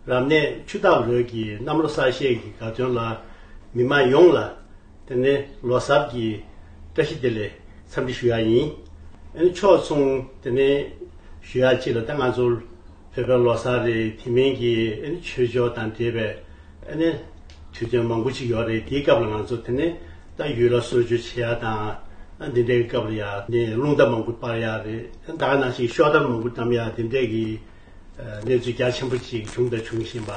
རབ་གནས་ཆུ་བདག་ལོད་ཀྱི་གནམ་ལོ་གསར་བཞད་ཀྱི་དགའ་སྟོན་ལ་མི་མང་ཡོངས་ལ་དེ་ནི་ལོ་གསར་གྱི་བཀྲ་ཤིས་བདེ་ལེགས་འཚམས་འདྲི་ཞུ་ཡག་ཡིན། ཨ་ནི་ཕྱོགས་མཚུངས་དེ་ནི་ཞུ་ཡག་ཅིག་ལ་ཏེ་ང་ཚོར་བོད་པའི་ལོ་གསར་རེད་དེ་མིན་གྱི་ཨ་ནི་ཆོས་ཕྱོགས་དང་འབྲེལ་བའི་ཨ་ནི་དུས་སྟོན་མང་པོ་ཅིག་ཡོག་རེད་དེའི་སྐབས་ལ་ང་ཚོ་དེ་ནི་ད་ཡུལ་ལ་གསོལ་མཆོད་བྱེད་ཡག་དང་ཨ་འདི་འདྲའི་སྐབས་ལ་ཡག་ནི་རླུང་རྟ་མང་པོ་སྤར་ཡག་རེད་ཨ་ད་ག་ནང་ཞིག་ཤོག་དར་མང་པོ་བཀྲམ་ཡག་དེ་འདྲས་ཀྱི། གནས་ཚུལ་རྒྱ་ཆེན་པོ་ཅིག་བྱུང་དང་འབྱུང་བཞིན་པ་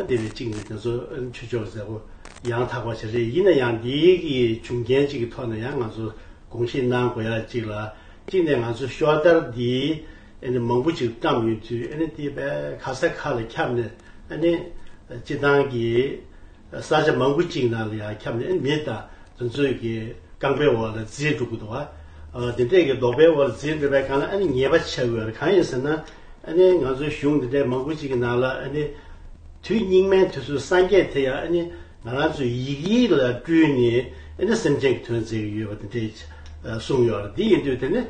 དེ་ལས་གཅིག་ནི་དེ་ཚོ་ཆོས་ཕྱོགས་གཟེར་བོ་ཡང་དག་པ་ཞིག་རེད་ཡིན་ན་ཡང་འདི་གི་འབྱུང་རྐྱེན་ཅིག་གི་ཐོག་ནས་ཡང་ང་ཚོ་དགོངས་བཞེས་གནང་དགོས་ཡ་གཅིག་ལ་གཅིག་ནས་ང་ཚོ་ཤོག་དར་འདི་ཨེ་ནི་མང་པོ་ཅིག་བཀྲམས་ཡོད་དུས་ཨེ་ནི་དེ་བས་ཁ་ས་ཁ་ལ་ཁྱབ་ནས་ཨེ་ནི་སྤྱི་བཏང་གི། ས་ཆ་མང་པོ་གཅིག་ནང་ལ་ཡང་ཁྱབ་ནས་མི་དང་རྫུ་འཕྲུལ་གྱི་རྐང་པའི་འོག་ལ་རྫིས་འགྲོ་དགོས་འདུག་བ། དེ་འདྲས་ཀྱི་ལྡོག་པའི་འོག་ལ་རྫིས་འགྲོ་བའི་གང་ལ་ཉེས་པ་ཆེ་བའི་བར་གང་ཡིན་ཟེར་ན། ང་ཚོའི་གཞུང་འདི་འདྲའི་མང་པོ་གཅིག་གི་ནང་ལ། དུས་སྙིགས་མའི་དུས་སུ་སངས་རྒྱས་དེ་ཡང་ང་རང་ཚོའི་ཡིག་ཡིག་ལ་སྤྲུལ་ནས་སེམས་ཅན་གྱི་དོན་མཛད་ཀྱི་ཡོད་པ་དེ་འདྲས་གསུངས་ཡོད་རེད། དེ་ཡིན་དུས་དེ་ནི་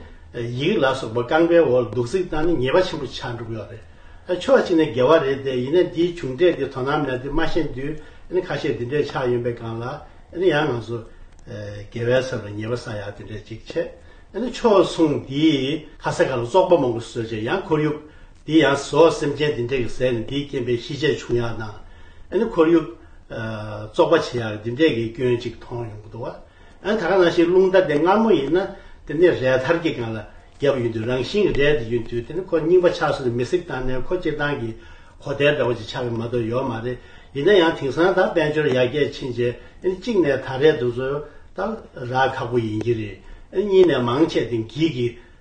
ཡིག་ལ་སོགས་པ་རྐང་པའི་འོག་ལ་འདུག་རྩིས་བཏང་ནས་ཉེས་པ་ཆེན་པོ་ཆགས་འགྲོ་གི་ཡོད་རེད། ཨ་ཕྱོགས་གཅིག་ནས་འགལ་བ་རེད་དེ་ཡིན་ན་འདིའི་བྱུང་འབྲས་འདི་དོ་སྣང་མེད་དུས་མ་ཤེས་དུས་ཨ་ནི་ཁ་ཤས་འདི་འདྲས་ཆགས་ཡོང་པའི་སྒང་ལ་ཨ་ནི་ཡང་ང་ཚོ་རྒྱལ་བའི་ཚབ་ལ་ཉེས་པ་ས་ཡག་འདི་འདྲས་ཅིག་བྱས་ཨ་ནི་ཕྱོགས་མཚུངས་འདིའི་ཁ་ས་ག་ལ་བཙོག་པ་མང་པོ་བཟོས་བྱས་ཡང་ཁོར་ཡུག་འདི་ཡང་བཟོ་སེམས་ཅན་འདི་འདྲས་ཀྱི་ཟས་ནི་འདིའི་རྐྱེན་པས་ཤི་ཆད་བྱུང་ཡག་དང་ཨ་ནི་ཁོར་ཡུག་བཙོག་པ་བྱས་ཡག་འདི་འདྲས་ཀྱི་སྐྱོན་ཅིག་མཐོང་ཡོང་གི་འདུག་བ། ཨ་ད་ག་ནང་བཞིན་རླུང་རྟ་དེ་མངར་མོ་ཡིན་ན་དེ་ནས་རས་ཐར་གྱི་སྒང་ལ་བརྒྱབ་ཡོད་དུས་རང་བཞིན་གྱི་རས་དེ་ཡོད་དུས་དེ་ནི་ཁོ་རྙིང་པ་ཆགས་སོང་ནས་མི་སྲིད་བཏང་ནས་ཁོ་སྤྱིར་བཏང་གི་གོ་བདེ་འདྲ་བོ་ཅིག་ཆགས་ཀྱི་མ་གཏོགས་ཡོད་མ་རེད་ཡིན་ན་ཡང་དེང་སང་ད་དཔལ་འབྱོར་ཡར་རྒྱས་ཕྱིན་རྗེས་ཨེ་ནི་གཅིག་ནས་ད་རས་འདུག་ཚོད་ལྟ་ར་ཁག་པོ་ཡིན་གྱི་རེད་ཨེ་ནི་གཉིས་ནས་མང་ཆེ་དེ་འགྱིག་གི་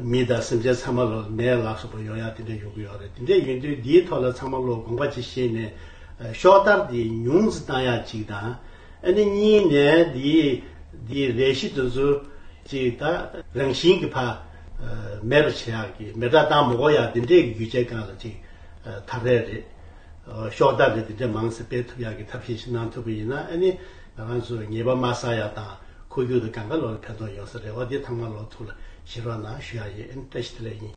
མི་དང་སེམས་ཅན་ཚང་མ་ལ་ནད་ལ་སོགས་པ་ཡོང་ཡག་དེ་འདྲ་ཡོང་གི་ཡོད་རེད་དེ་འདྲ་ཡོང་དུས་འདིའི་ཐོག་ལ་ཚང་མ་བློ་དགོངས་པ་གཅིག་བཞེས་ནས་ཤོག་ལྟར་དེ་ཉུང་བཟི་བཏང་ཡག་གཅིག་དང། ཨ་ནི་གཉིས་ནས་དེ་དེ་རེ་བཞི་དུ་འཛུལ། གཅིག་ད་རང་བཞིན་གྱི་ཕ། མེད་པ་བྱེད་ཡག་གི་མེ་དགྲ་སྟངས་མོ་གོ་ཡག་དེ་འདྲའི་གི་རྒྱུ་ཆའི་སྒང་ལ་གཅིག་ཐ་རད་རེད། ཤོག་ལྟར་རེ་དེ་འདྲའི་མང་ཚེ་སྤེལ་ཐུབ་ཡག་གི་ཐབས་ཤེས་ཤིག་གནང་ཐུབ་པ་ཡིན་ན་ཨ་ནི་ང་རང་ཚོས་ཉེས་པ་མ་བསགས་ཡག་དང། ཁུ་རྒྱུག་དང་གངས་དཀར་ལོག་ལ་ཕན་ཐོགས་ཡོང་ས་རེད་བ་འདི་ཐམ་ག་ལོག་ཐུག་ལ་ཞེར་བ་ན་ཞུ་ཡག་ཡིན་བཀྲ་ཤིས་བདེ་ལེགས་ཡིན།